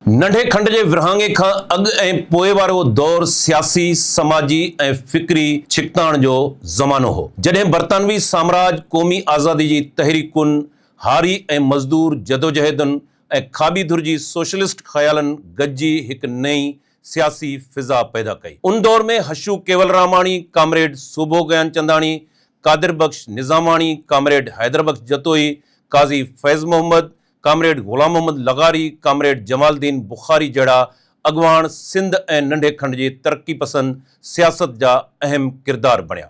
ننڍي کنڊ جي ورهاڱي کان اڳ ۽ پوء وارو دور سياسي، سماجي ۽ فڪري ڇڪتاڻ جو زمانو هو، جڏهن برطانوي سامراج قومي آزادي جي تحريڪن، هاري ۽ مزدور جدوجهدن ۽ کاٻي ڌر جي سوشلسٽ خيالن گڏجي هڪ نئين سياسي فضا پيدا ڪئي. ان دور ۾ Hashu Kewalramani, comrade Sobho Gianchandani, Qadir Bakhsh Nizamani, comrade Haider Bakhsh Jatoi, Qazi Faiz Muhammad, comrade Ghulam Muhammad لغاري، ڪامريڊ جمال الدين بخاري جهڙا اڳواڻ سنڌ ۽ ننڍي کنڊ جي ترقي پسند سياست جا اهم ڪردار بڻيا.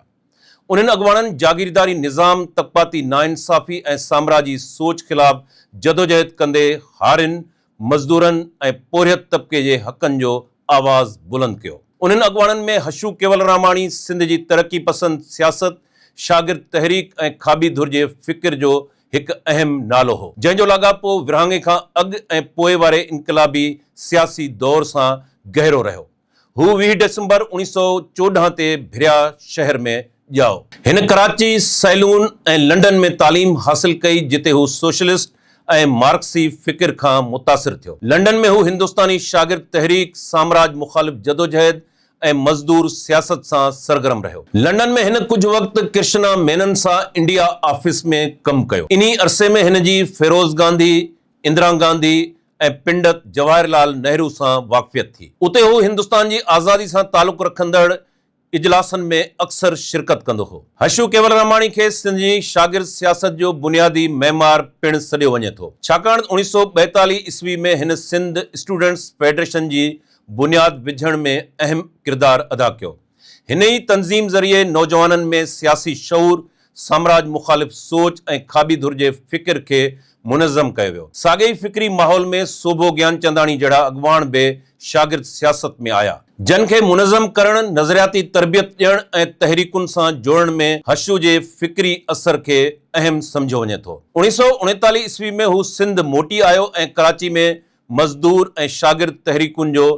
انهن اڳواڻن جاگيرداري نظام، طبقاتي ناانصافي ۽ سامراجي سوچ خلاف جدوجهد ڪندي هارين، مزدورن ۽ پورهيت طبقي جي حقن جو آواز بلند ڪيو. انهن اڳواڻن ۾ حشو ڪيولراماڻي سنڌ جي ترقي پسند سياست، شاگرد تحريڪ ۽ کاٻي ڌر جي فڪر جو هڪ اهم نالو هو، جنهن جو لاڳاپو ورهاڱي کان اڳ ۽ پوء واري انقلابي سياسي دور سان گهرو رهيو. هو ويهه ڊسمبر اوڻيهه سؤ چوڏهن تي ڀريا شهر ۾ ڄائو. هن ڪراچي، سيلون ۽ لنڊن ۾ تعليم حاصل ڪئي، جتي هو سوشلسٽ ۽ مارڪسي فڪر کان متاثر ٿيو. لنڊن ۾ هو هندستاني شاگرد تحريڪ، سامراج مخالف جدوجهد ۽ مزدور سياست سان سرگرم رهيو. لنڊن ۾ هن ڪجهه وقت ڪرشنا مينن سان انڊيا آفيس ۾ ڪم ڪيو. انهي عرصي ۾ هن جي فيروز گانڌي، اندرا گانڌي ۽ پنڊت جواهر لال نهرو سان واقفيت ٿي. اتي هو هندستان جي آزادي سان تعلق رکندڙ اجلاسن ۾ اڪثر شرڪت ڪندو هو. هشو ڪيولراماڻي کي سنڌ جي شاگرد سياست جو بنيادي معمار پڻ سڏيو وڃي ٿو، ڇاڪاڻ اوڻيھ سؤ ٻائيتاليھ عيسوي ۾ هن سنڌ اسٽوڊنٽس فيڊريشن جي بنياد وجهڻ ۾ اهم ڪردار ادا ڪيو. هن ئي تنظيم ذريعي نوجوانن ۾ سياسي شعور، سامراج مخالف سوچ ۽ کاٻي ڌر جي فڪر کي منظم ڪيو ويو. ساڳئي ئي فڪري ماحول ۾ سوڀو گيانچنداڻي جهڙا اڳواڻ به شاگرد سياست ۾ آيا. جن کي منظم ڪرڻ، نظرياتي تربيت ڏيڻ ۽ تحريڪن سان جوڙڻ ۾ حشو جي فڪري اثر کي اهم سمجهيو وڃي ٿو. اوڻيهه سؤ اڻيتاليهه عيسوي ۾ هو سنڌ موٽي آيو ۽ ڪراچي ۾ مزدور ۽ شاگرد تحريڪن جو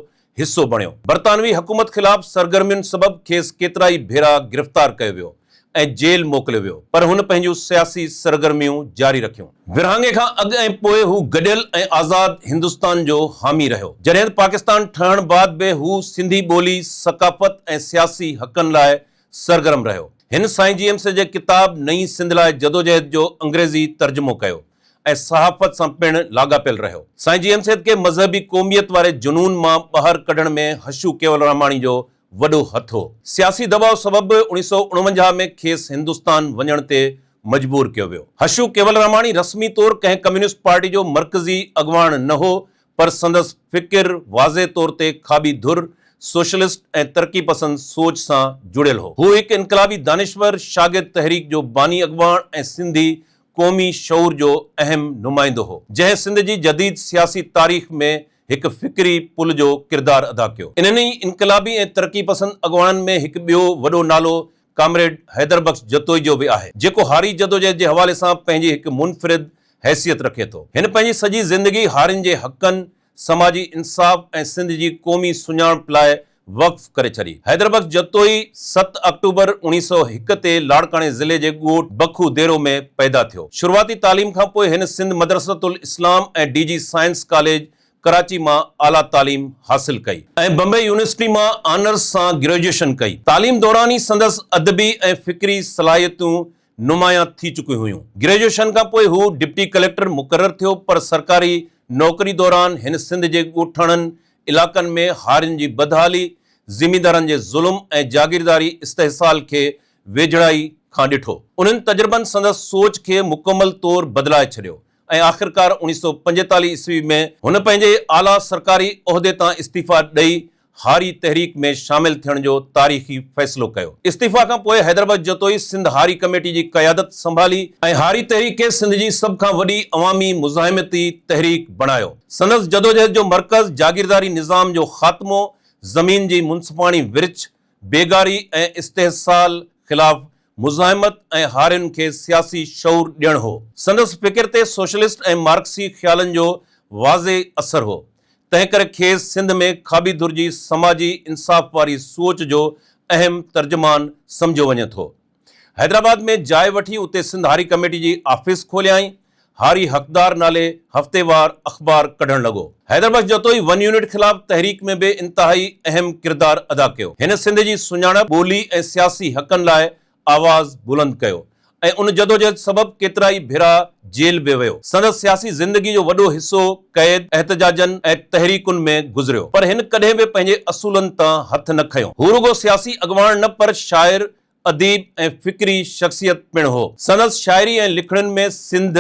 حصو بڻيو. برطانوي حڪومت خلاف سرگرمين سبب کيس ڪيترائي ڀيرا گرفتار ڪيو ويو ۽ جيل موڪليو ويو پر هن پنهنجون سياسي سرگرميون جاري رکيون. ورهاڱي کان اڳ ۽ پوء هو گڏيل ۽ آزاد هندستان جو حامي رهيو. جڏهن ته پاڪستان ٺهڻ بعد به هو سنڌي ٻولي، ثقافت ۽ سياسي حقن لاء سرگرم رهيو. هن سائين جيمس جي ڪتاب نئين سنڌ لاء جدوجهد جو انگريزي ترجمو ڪيو. ۽ صحافت سان پڻ لاڳاپيل رهيو. سائين جي ايم سيد کي مذهبي قوميت واري جنون مان ٻاهر ڪڍڻ ۾ حشو ڪيولراماڻي جو وڏو هٿ هو. سياسي دٻاء سبب به اوڻي سؤ اڻونجاهه ۾ کيس هندستان وڃڻ تي مجبور ڪيو ويو. حشو ڪيولراماڻي رسمي طور ڪنهن ڪميونسٽ پارٽي جو مرڪزي اڳواڻ نه هو، پر سندس فڪر واضح طور تي کاٻي ڌر، سوشلسٽ ۽ ترقي پسند سوچ سان جڙيل هو. هو هڪ انقلابي دانشور، شاگرد تحريڪ جو باني اڳواڻ ۽ سنڌي قومي شعور جو اهم نمائندو هو، جنهن سنڌ جي جديد سياسي تاريخ ۾ هڪ فڪري پل جو ڪردار ادا ڪيو. انهن ئي انقلابي ۽ ترقي پسند اڳواڻن ۾ هڪ ٻيو وڏو نالو ڪامريڊ حيدر بخش جتوئي جو به آهي، جيڪو هاري جدوجهد جي حوالي سان پنهنجي هڪ منفرد حيثيت رکي ٿو. هن پنهنجي سڄي زندگي هارين جي حقن سماجي انصاف ۽ سنڌ جي قومي سڃاڻپ لاء وقف ڪري ڇڏي. حيدر بخش جتوئي ست آڪٽوبر اوڻيهه سؤ هڪ تي لاڙڪاڻي ضلعي جي ڳوٺ بکو ديرو ۾ پيدا ٿيو. شروعاتي تعليم کان پوء هن Sindh Madressatul Islam ۽ D J science college Karachi مان اعليٰ تعليم حاصل ڪئي. ۽ بمبئي يونيورسٽي مان آنرس سان گريجوئيشن ڪئي. تعليم دوران ئي سندس ادبي ۽ فڪري صلاحيتون نمايان ٿي چڪيون هيون. گريجوئيشن کان پوء هو ڊپٽي ڪليڪٽر مقرر ٿيو پر سرڪاري نوڪري دوران هن سنڌ جي ڳوٺاڻن علائقن ۾ هارين جي بدحالي، زميندارن جي ظلم ۽ جاگيرداري استحصال کي ويجهڙائي کان ڏٺو. انهن تجربن سندس سوچ کي مڪمل طور بدلائي ڇڏيو. ۽ آخرڪار اوڻيھ سؤ پنجيتاليھ عيسوي ۾ هن پنهنجي اعليٰ سرڪاري عهدي تان استعيفيٰ ڏئي هاري تحريڪ ۾ شامل ٿيڻ جو تاريخي فيصلو ڪيو. استعيفيٰ کان پوء حيدربج جتوئي سنڌ هاري ڪميٽي جي قيادت سنڀالي، ۽ هاري تحريڪ کي سنڌ جي سڀ کان وڏي عوامي مزاحمتي تحريڪ بڻايو سندس جدوجهد جو مرڪز جاگيرداري نظام جو خاتمو، زمين جي منصفاڻي ورڇ، بيگاري ۽ استحصال خلاف مزاحمت ۽ هارين کي سياسي شعور ڏيڻ هو. سندس فڪر تي سوشلسٽ ۽ مارڪسي خيالن جو واضح اثر هو، تنهنڪري کيس سنڌ ۾ کاٻي ڌر جي سماجي انصاف واري سوچ جو اهم ترجمان سمجهيو وڃي ٿو. حيدرآباد ۾ جاء وٺي اتي سنڌ هاري ڪميٽي جي آفيس کوليائين. هاري حقدار نالي هفتيوار اخبار ڪڍڻ لڳو. حيدربخش جتوئي ون يونٽ خلاف تحريڪ ۾ به انتهائي اهم ڪردار ادا ڪيو. هن سنڌ جي سڃاڻپ، ٻولي ۽ سياسي حقن لاء آواز بلند ڪيو ۽ ان جدوجهد سبب ڪيترائي ڀيرا جيل به ويو. سندس سياسي زندگي جو وڏو حصو قيد، احتجاجن ۽ تحريڪن ۾ گذريو پر هن ڪڏهن به پنهنجي اصولن تان هٿ نه کنيو. هو رڳو سياسي اڳواڻ نه پر شاعر، اديب ۽ فڪري شخصيت پڻ هو. سندس شاعري ۽ لکڻين ۾ سنڌ،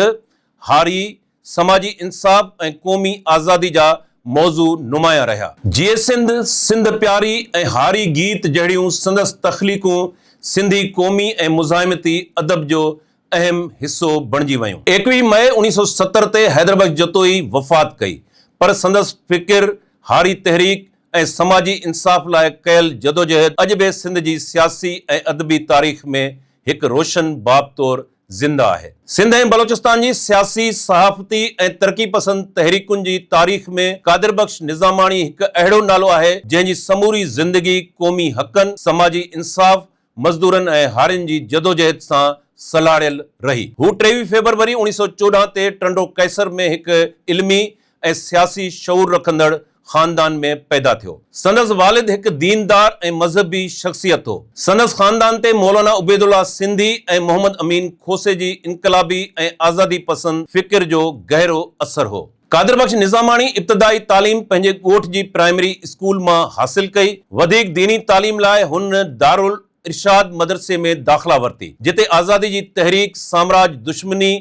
هاري، سماجي انصاف ۽ قومي آزادي جا موضوع نمايان رهيا. جيئي سنڌ، سنڌ پياري ۽ هاري گيت جهڙيون سندس تخليقون سنڌي قومي ۽ مزاحمتي ادب جو اهم حصو بڻجي ويون. ايڪويهه مئي اوڻيهه سؤ ستر تي حيدربخش جتوئي وفات ڪئي، پر سندس فڪر، هاري تحريڪ ۽ سماجي انصاف لاء ڪيل جدوجهد اڄ به سنڌ جي سياسي ۽ ادبي تاريخ ۾ هڪ روشن باب طور زنده آهي. سنڌ ۽ بلوچستان جي سياسي، صحافتي ۽ ترقي پسند تحريڪن جي تاريخ ۾ قادر بخش نظاماڻي هڪ اهڙو نالو آهي، جنهن جي سموري زندگي قومي حقن، سماجي انصاف ۽ مزدورن ۽ هارين جي جدوجهد سان سلهاڙيل رهي. هو ٽيويهه فيبروري اوڻيهه سؤ چوڏهن تي ٽنڊو قيصر ۾ هڪ علمي ۽ سياسي شعور رکندڙ خاندان ۾ پيدا ٿيو. سندس والد هڪ ديندار ۽ مذهبي شخصيت هو. سندس خاندان تي مولانا عبيدالله سنڌي ۽ محمد امين کوسي جي انقلابي ۽ آزادي پسند فڪر جو گهرو اثر هو. قادر بخش نظاماڻي ابتدائي تعليم پنهنجي ڳوٺ جي پرائمري اسڪول مان حاصل ڪئي. وڌيڪ ديني تعليم لاء هن دارالارشاد مدرسي ۾ داخلا ورتي، جتي آزادي جي تحريڪ، سامراج دشمني،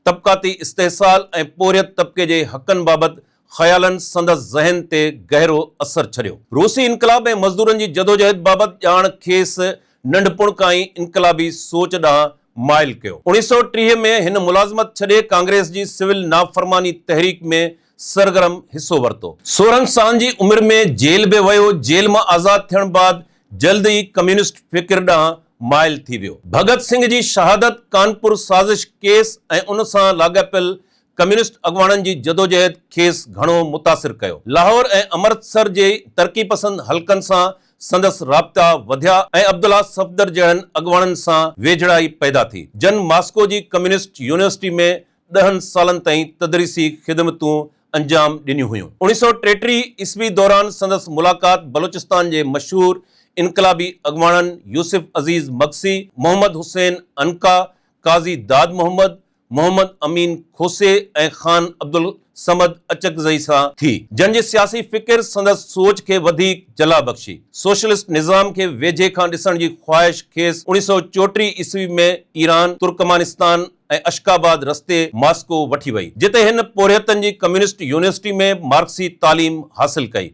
طبقاتي استحصال ۽ پورهيت طبقي جي حقن بابت خيالن سندس ذهن تي گهرو اثر ڇڏيو. روسي انقلاب ۽ مزدورن جي جدوجهد بابت ڄاڻ کيس ننڍپڻ کان ئي انقلابي سوچ ڏانهن مائل ڪيو. اوڻيهه سؤ ٽيهه ۾ هن ملازمت ڇڏي ڪانگريس جي سول نافرماني تحريڪ ۾ سرگرم حصو ورتو. سورهن سال جي عمر ۾ جيل به ويو. جيل مان آزاد ٿيڻ بعد جلد ئي ڪميونسٽ فڪر ڏانهن مائل ٿي ويو. ڀڳت سنگهه جي شهادت، ڪانپور سازش ڪيس ۽ ان سان لاڳاپيل ڪميونسٽ اڳواڻن جي جدوجهد کيس گهڻو متاثر ڪيو. لاهور ۽ امرتسر جي ترقي پسند حلقن سان سندس رابطا وڌيا ۽ عبدالله صفدر جهڙن اڳواڻن سان ويجهڙائي پيدا ٿي، جن ماسڪو جي ڪميونسٽ يونيورسٽي ۾ ڏهن سالن تائين تدريسي خدمتون انجام ڏنيون هيون. اوڻيهه سؤ ٽيٽيهه عيسوي دوران سندس ملاقات بلوچستان جي مشهور انقلابي اڳواڻن يوسف عزيز مگسي، محمد حسين عنقا، قاضي داد محمد، محمد امين کوسي ۽ خان عبدالصمد اچڪزئي سان ٿي، جن جي سياسي فڪر سندس سوچ کي وڌيڪ جلا بخشي. سوشلسٽ نظام کي ويجهي کان ڏسڻ جي خواهش کيس اوڻيهه سؤ چوٽيهه عيسوي ۾ ايران، ترڪمانستان ۽ اشڪاباد رستي ماسڪو وٺي وئي، جتي هن پورهيتن جي ڪميونسٽ يونيورسٽي ۾ مارڪسي تعليم حاصل ڪئي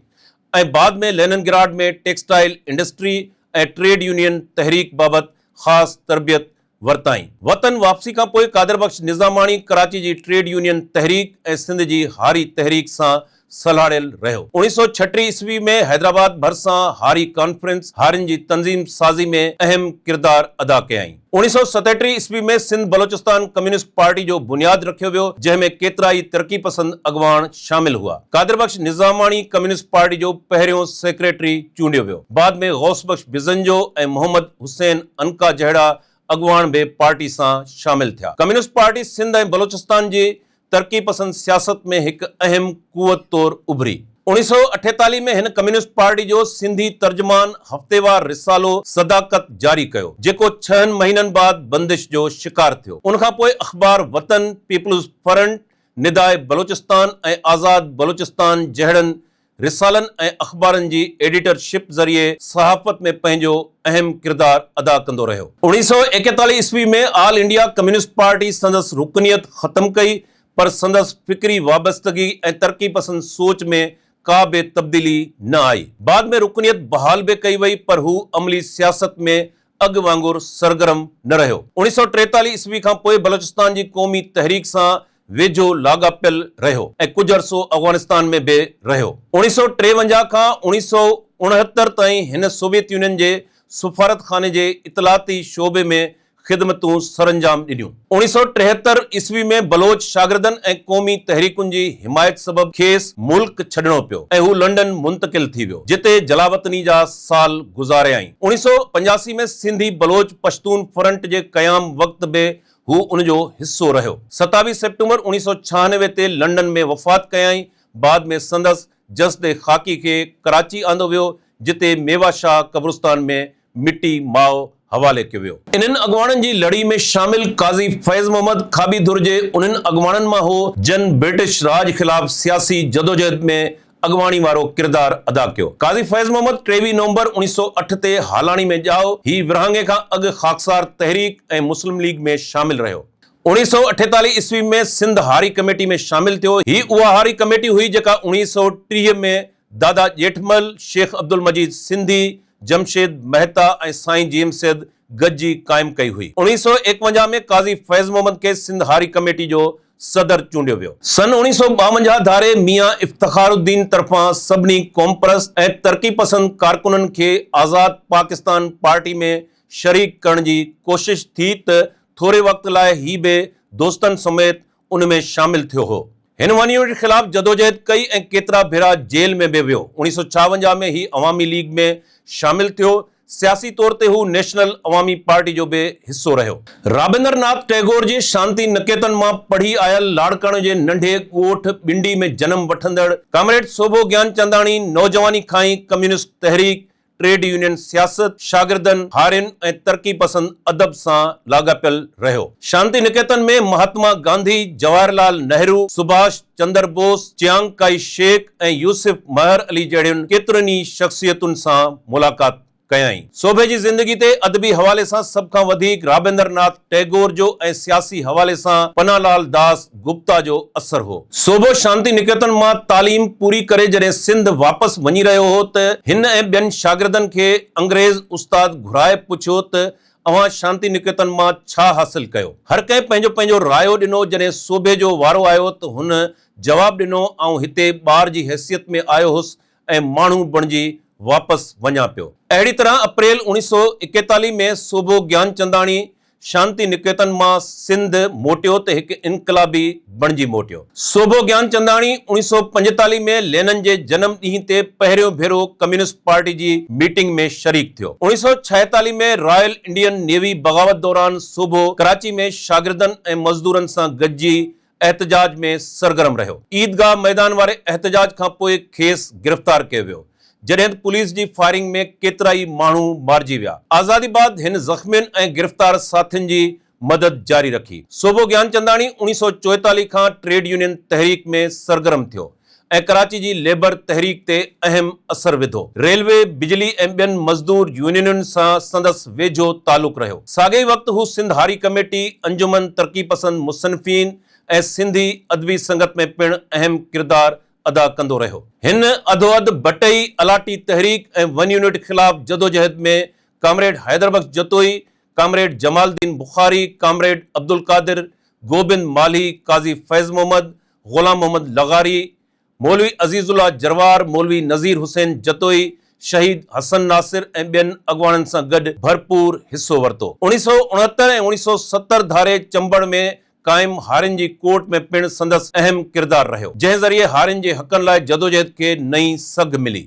۽ بعد ۾ Leningrad ۾ textile industry ۽ trade union تحريڪ بابت خاص تربيت ورتائين. وطن واپسي کان پوء قادر بخش نظاماڻي ڪراچي جي ٽريڊ يونين تحريڪ ۽ سنڌ جي هاري تحريڪ سان سلهاڙيل رهيو. اوڻيهه سؤ ڇٽيهه عيسوي ۾ حيدرآباد ڀرسان هاري ڪانفرنس هارين جي تنظيم سازي ۾ اهم ڪردار ادا ڪيائين. اوڻيهه سؤ ستيٽيهه عيسوي ۾ سنڌ بلوچستان ڪميونسٽ پارٽي جو بنياد رکيو ويو، جنهن ۾ ڪيترائي ترقي پسند اڳواڻ شامل هئا. قادر بخش نظاماڻي ڪميونسٽ پارٽي جو پهريون سيڪريٽري چونڊيو ويو. بعد ۾ غوث بخش بزنجو ۽ محمد. حسين عنقا جهڙا اڳواڻ به پارٽي سان شامل ٿيا. ڪميونسٽ پارٽي سنڌ ۽ بلوچستان جي ترقي پسند سياست ۾ هڪ اهم قوت طور اڀري. اوڻيھ سؤ اٺيتاليھ ۾ هن ڪميونسٽ پارٽي جو سنڌي ترجمان هفتيوار رسالو صداقت جاري ڪيو، جيڪو ڇهن مهينن بعد بندش جو شڪار ٿيو. ان کان پوء اخبار وطن، پيپلز فرنٽ، نداء بلوچستان ۽ آزاد بلوچستان جهڙن رسالن ۽ اخبارن جي ايڊيٽر شپ ذريعي صحافت ۾ پنهنجو اهم ڪردار ادا ڪندو رهيو. اوڻيهه سؤ ايڪيتاليهه عيسوي ۾ آل انڊيا ڪميونسٽ پارٽي سندس رڪنيت ختم ڪئي پر سندس فڪري وابستگي ۽ ترقي پسند سوچ ۾ ڪا به تبديلي نه آئي. بعد ۾ رڪنيت بحال به ڪئي وئي پر هو عملي سياست ۾ اڳ وانگر سرگرم نه رهيو. اوڻيهه سؤ ٽيتاليهه عيسوي کان پوء بلوچستان جي قومي تحريڪ سان ويجهو لاڳاپيل رهيو ۽ ڪجهه عرصو افغانستان ۾ به رهيو. اوڻيهه سؤ ٽيونجاهه کان اوڻيهه سؤ اڻهتر تائين هن سوويت يونين جي سفارتخاني جي اطلاعاتي شعبي ۾ خدمتون سرانجام ڏنيون. اوڻيهه سؤ ٽيهتر عيسوي ۾ بلوچ شاگردن ۽ قومي تحريڪن جي حمايت سبب کيس ملڪ ڇڏڻو پيو ۽ هو لنڊن منتقل ٿي ويو، جتي جلاوطني جا سال گذاريائين. اوڻيهه سؤ پنجاسي ۾ سنڌي بلوچ پشتون فرنٽ جي قيام وقت به هو ان جو حصو رهيو. ستاويهه سيپٽمبر اوڻيهه سؤ ڇهانوي تي لنڊن ۾ وفات ڪيائين. بعد ۾ سندس جسد خاڪي کي ڪراچي آندو ويو، جتي ميوا شاهه قبرستان ۾ مٽي ماء حوالي ڪيو ويو. انهن اڳواڻن جي لڙي ۾ شامل قاضي فيض محمد کاٻي ڌر جي انهن اڳواڻن مان هو، جن برٽش راڄ خلاف سياسي جدوجهد ۾ اڳواڻي وارو ڪردار ادا ڪيو. قاضي فيض محمد ٽيويهه نومبر اوڻيهه سؤ اٺ تي هالاڻي ۾ ڄائو. هي ورهاڱي کان اڳ خاڪسار تحريڪ ۽ مسلم ليگ ۾ شامل رهيو. اوڻيهه سؤ اٺيتاليهه عيسوي ۾ سنڌ هاري ڪميٽي ۾ شامل ٿيو. هي اها هاري ڪميٽي هئي جيڪا اوڻيهه سؤ ٽيهه ۾ دادا ڄيٺمل، شيخ عبدالمجيد سنڌي، جمشيد مهتا ۽ سائين جيم سيد گڏجي قائم ڪئي هئي. اوڻيهه سؤ ايڪونجاهه ۾ قاضي فيض محمد کي سنڌ هاري ڪميٽي جو صدر چونڊيو ويو. سن اوڻيهه سؤ ٻاونجاهه ڌاري ميان افتخار الدين طرفان سڀني قومپرست ۽ ترقي پسند ڪارڪنن کي آزاد پاڪستان پارٽي ۾ شريڪ ڪرڻ جي ڪوشش ٿي ته ٿوري وقت لاء هي به دوستن سميت ان ۾ شامل ٿيو هو. هن ون يونٽ خلاف جدوجهد ڪئي ۽ ڪيترا ڀيرا جيل ۾ به ويو. اوڻيهه سؤ ڇاونجاهه ۾ هي عوامي ليگ ۾ شامل ٿيو، سياسي طور تي هو نيشنل عوامي پارٽي جو به حصو رهيو. رابندر ناٿ ٽئگور جي شانتي نڪيتن مان پڙهي آيل لاڙڪاڻو جي ننڍي ڳوٺ ٻنڊي ۾ جنم وٺندڙ ڪامريڊ سوڀو گيانچنداڻي نوجواني کان ئي ڪميونسٽ تحريڪ، ٽريڊ يونين سياست، شاگردن، هارين ۽ ترقي پسند ادب سان لاڳاپيل رهيو. شانتي نڪيتن ۾ مهاتما گانڌي، جواهر لال نهرو، سڀاش، Chandra Bose, Chiang Kai Shek ۽ Yusuf Mehar Ali جهڙين ڪيترين ئي شخصيتن سان ملاقات ڪيائين. سوڀي جي زندگي تي ادبي حوالي سان سڀ کان وڌيڪ رابندر ناٿ ٽئگور جو ۽ سياسي حوالي سان پناھ لال داس گپتا جو اثر هو. سوڀو شانتي نڪيتن مان تعليم پوري ڪري جڏهن سنڌ واپس وڃي رهيو هو ته هن ۽ ٻين شاگردن کي انگريز استاد گهرائي پڇيو ته اوهان شانتي نڪيتن مان ڇا حاصل ڪيو؟ هر ڪنهن پنهنجو پنهنجو رايو ڏنو، جڏهن سوڀي جو وارو آيو ته هن جواب ڏنو آئون هتي ٻار جي حيثيت ۾ آيو هوس ۽ ماڻهو بڻجي واپس وڃان پيو. اهڙي طرح اپريل اوڻيهه سؤ ايڪيتاليهه ۾ سوڀو گيانچنداڻي شانتي نڪيتن مان سنڌ موٽيو ته هڪ انقلابي بڻجي موٽيو. سوڀو گيانچنداڻي اوڻيهه سؤ پنجيتاليهه ۾ لينن جي جنم ڏينهن تي پهريون ڀيرو ڪميونسٽ پارٽي جي ميٽنگ ۾ شريڪ ٿيو. اوڻيهه سؤ ڇاهيتاليهه ۾ رائل انڊين نيوي بغاوت دوران سوڀو ڪراچي ۾ شاگردن ۽ مزدورن سان گڏجي احتجاج ۾ سرگرم رهيو. عيدگاهه ميدان واري احتجاج کان پوء کيس گرفتار ڪيو ويو، جڏهن ته پوليس جي فائرنگ ۾ ڪيترائي ماڻهو مارجي ويا. آزادي بعد هن زخمين ۽ گرفتار ساٿين جي مدد جاري رکي. سوڀو گيانچنداڻي اوڻيهه سؤ چوئيتاليهه کان ٽريڊ يونين تحريڪ ۾ سرگرم ٿيو ۽ ڪراچي جي ليبر تحريڪ تي اهم اثر وڌو. ريلوي، بجلي ۽ ٻين مزدور يونينن سان سندس ويجهو تعلق رهيو. ساڳئي وقت هو سنڌ هاري ڪميٽي، انجمن ترقي پسند مصنفين ۽ سنڌي ادبي سنگت ۾ پڻ اهم ڪردار ادا ڪندو رهيو. هن اڌواڌ ڀٽئي، الاٽي تحريڪ ۽ ون يونٽ خلاف جدوجهد ۾ comrade Haiderbakhsh Jatoi, comrade Jamal uddin Bukhari, comrade Abdulqadir, Gobind Malhi, Qazi Faiz Muhammad, Ghulam Muhammad لغاري، مولوي عزيز الله جروار، مولوي نذير حسين جتوئي، شهيد حسن ناصر ۽ ٻين اڳواڻن سان گڏ ڀرپور حصو ورتو. اوڻيھ سؤ اڻهتر ۽ اوڻيھ سؤ ستر ڌاري چمبڙ ۾ قائم هارين جي ڪورٽ ۾ پڻ سندس اهم ڪردار رهيو، جنهن ذريعي هارين جي حقن لاء جدوجهد کي نئين سگهه ملي.